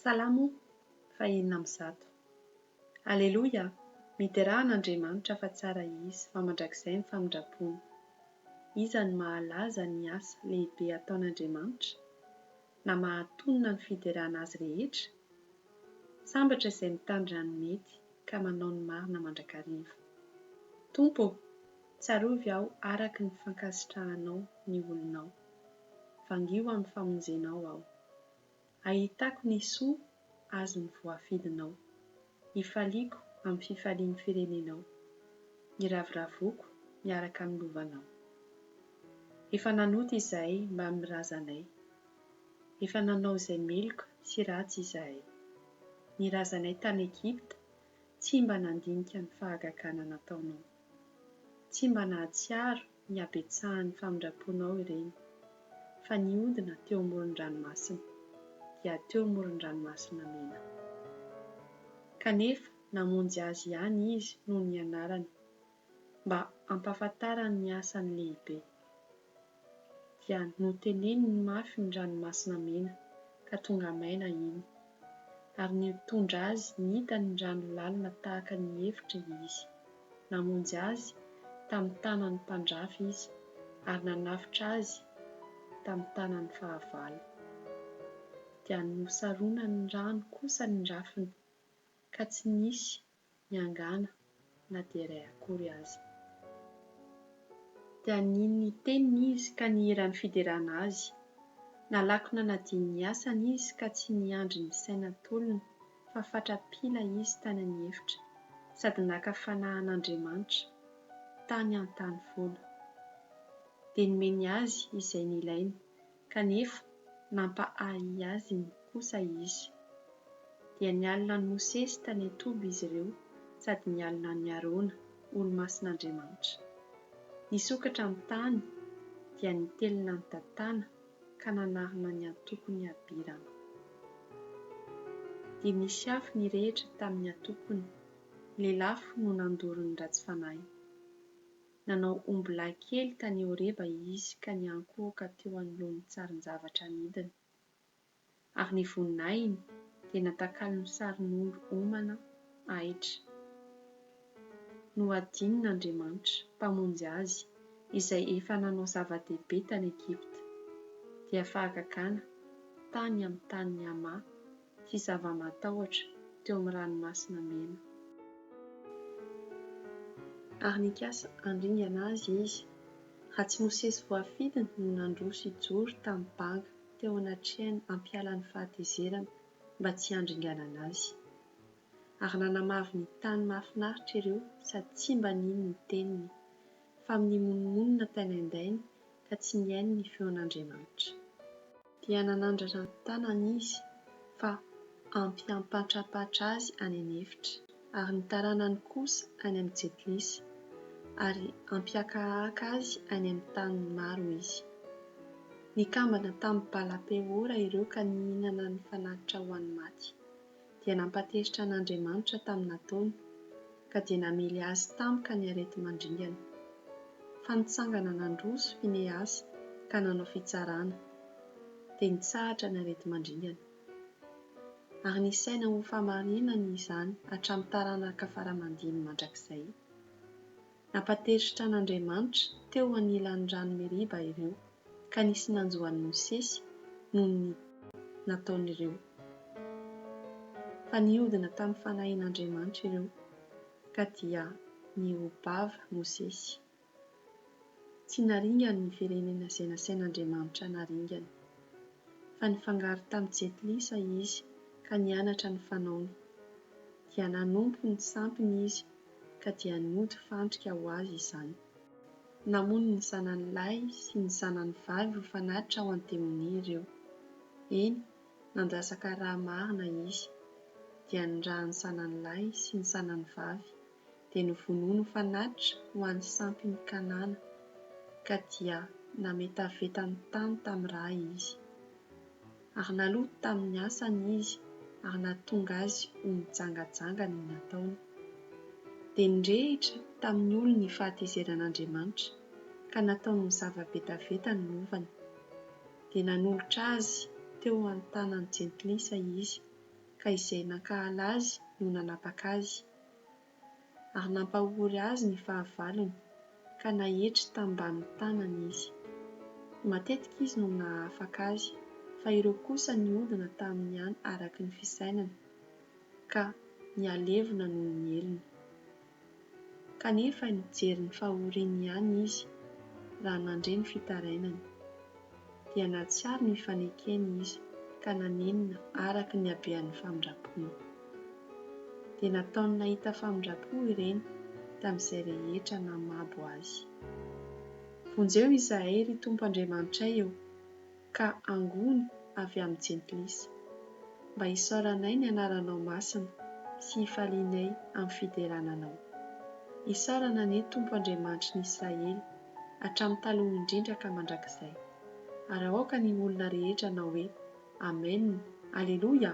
Salamo fahenina amby zato. Aleloia, miderà an' Andriamanitra fa tsara Izy fa mandrakizay ny famindrampony. Iza no mahalaza ny asa lehibe ataon' Andriamanitra? Na mahatonina ny fiderana Azy rehetra? Sambatra izay mitandrina ny mety ka manao ny marina mandrakariva. Tompo ô, tsarovy aho araka ny fankasitrahanao ny olonao. Vangio amin'ny famonjenao aho. Ahitako ny soa azon'ny voafidinao. Ifaliako amin'ny fifalian'ny firenenao. Iraviravoko miaraka amin'ny lovanao. Efa nanota izahay mba amin'ny razanay. Efa nanao izay meloka sy ratsy izahay. Ny razanay tany Egypta tsy mba nandinika ny fahagagana nataonao. Tsy mba nahatsiaro ny habetsahan'ny famindram-ponao ireny, fa nihodina teo amoron-dranomasina, dia teo amoron-dranomasina mena. Kanefa namonjy azy ihany izy noho ny anarany, mba hampahafantarany ny asany lehibe. Dia noteneniny mafy ny ranomasina mena, ka tonga maina iny, ary nitondra azy nita ny rano lalina tahaka ny efitra Izy. Namonjy azy tamin'ny tanan'ny mpandrafy Izy ary nanafitra azy tamin'ny tanany fahavalo. Dia nosaronan'ny rano kosa ny rafiny, ka tsy nisy miangàna na dia iray akory aza. Dia nino ny Teniny izy ka nihiran'ny fiderana Azy. Nalaky nanadino ny asany izy ka tsy niandry ny saina tolona fa fatra-pila izy tany amin'ny efitra, sady naka fanahy an'Andriamanitra tany an-tany foana. Dia nomeny azy izay nilainy kanefa nampahahy azy ny kosa izy. Dia nialona an'i Mosesy tany an-toby izy ireo sady nialona an'i Arona, olo-masin'Andriamanitra. Nisokatra ny tany, dia nitelina an'i Datana ka nanarona ny antokon'i Abirama. Dia nisy afo nirehitra tamin'ny antokony, lelafo no nandoro ny ratsy fanahy. Nanao ombilahy kely tany Horeba izy ka niankohoka teo anoloan'ny tsarin-javatra amidiny. Ary ny voninahiny dia natakalony ho sarin'ondry homana ahitra. Nohadinin' Andriamanitra, Mpamonjy azy, izay efa nanao zava-dehibe tany Egypta, dia fahagagana tany amin'ny tanin'i Hama, sy zava-matahotra teo amin'ny Ranomasina Mena. Ary nikasa handringana azy izy, raha tsy Mosesy voafidiny no nandroso hijoro tamin'ny banga teo anatrehany hampiala ny fahatezerana mba tsy handringanana azy. Ary nanamavo ny tany mahafinaritra ireo sady tsy mba nino ny teniny, fa amin'ny monomonona tainaindainy ka tsy nihaino ny feon'Andriamanitra. Dia nanandratra ny tanany izy fa ampy hampahatrapatra azy any an'efitra, ary ny taranany kosa any amin'ny jetilisa, ary hampihakahaka azy any amin'ny tany maro izy. Nikambana tamin'i Bala-peora ireo ka nihinana ny fanatitra ho an'ny maty. dia nampatezitra an' Andriamanitra tamin'ny nataony, ka dia namely azy tampoka ny areti-mandringana. Fa nitsangana nandroso Finehasa ka nanao fitsarana, dia nitsahatra ny areti-mandringana. Ary nisaina hofamarinany izany hatramin'ny taranaka fara-mandimby mandrakizay. Nampatezitra an'Andriamanitra teo anilan'ny rano Meriba ireo, ka nisy nanjo an'i Mosesy noho ny nataon'ireo. Fa nihodina tamin'ny fanahin'Andriamanitra ireo, ka dia nihoa-bava Mosesy. Tsy naringany ny firenena izay nasain'Andriamanitra hanaringany, fa nifangaro tamin'i Jetlisa izy ka nianatra ny fanaony. Dia nanompo ny sampiny izy ka dia nody fandrika ho azy izany. Namono ny zanany lahy sy ny zanany vavy ho fanatitra ao an-temonia ireo. Eny, nandrasaka rà marina izy. Dia ny ràn'ny zanany lahy sy ny zanany vavy dia novonoiny ho fanatitra ho an'ny sampin'i Kanana, ka dia nametaveta ny tany tamin'ny rà izy. Ary naloto tamin' ny asany izy ary nahatonga azy ho nijangajanga ny nataony. Dia nirehitra tamin' ny olony ny fahatezeran' Andriamanitra, ka nataony mizava-betaveta ny lovany. Dia nanolotra azy teo an-tanan' ny jentilisa izy, ka izay nankahala azy no nanapaka azy, ary nampahory azy ny fahavalony ka naetry tambanin'ny tanany izy. Matetika izy no nahafaka azy fa ireo kosa nihodina taminy ihany araky ny fisainana ka nihalevona noho ny helony. Kanefa nijery ny fahoriany ihany izy raha nandre ny fitarainany. dia nahatsiaro ny fanekeny izy ka nanenina araka ny habean'ny famindram-pony. Dia nataony nahita famindram-po ireny tamin'izay rehetra namabo azy. Vonjeo izahay ry Tompo Andriamanitray ô, ka angony avy amin'ny jentilisa, mba hisaoranay ny anaranao masina sy hifalianay amin'ny fiderana anao. Isaorana anie Tompo Andriamanitry ny Israely, hatramin'ny taloha indrindra ka mandrakizay. Ary aoka ny olona rehetra hanao hoe, Amen! Aleloia!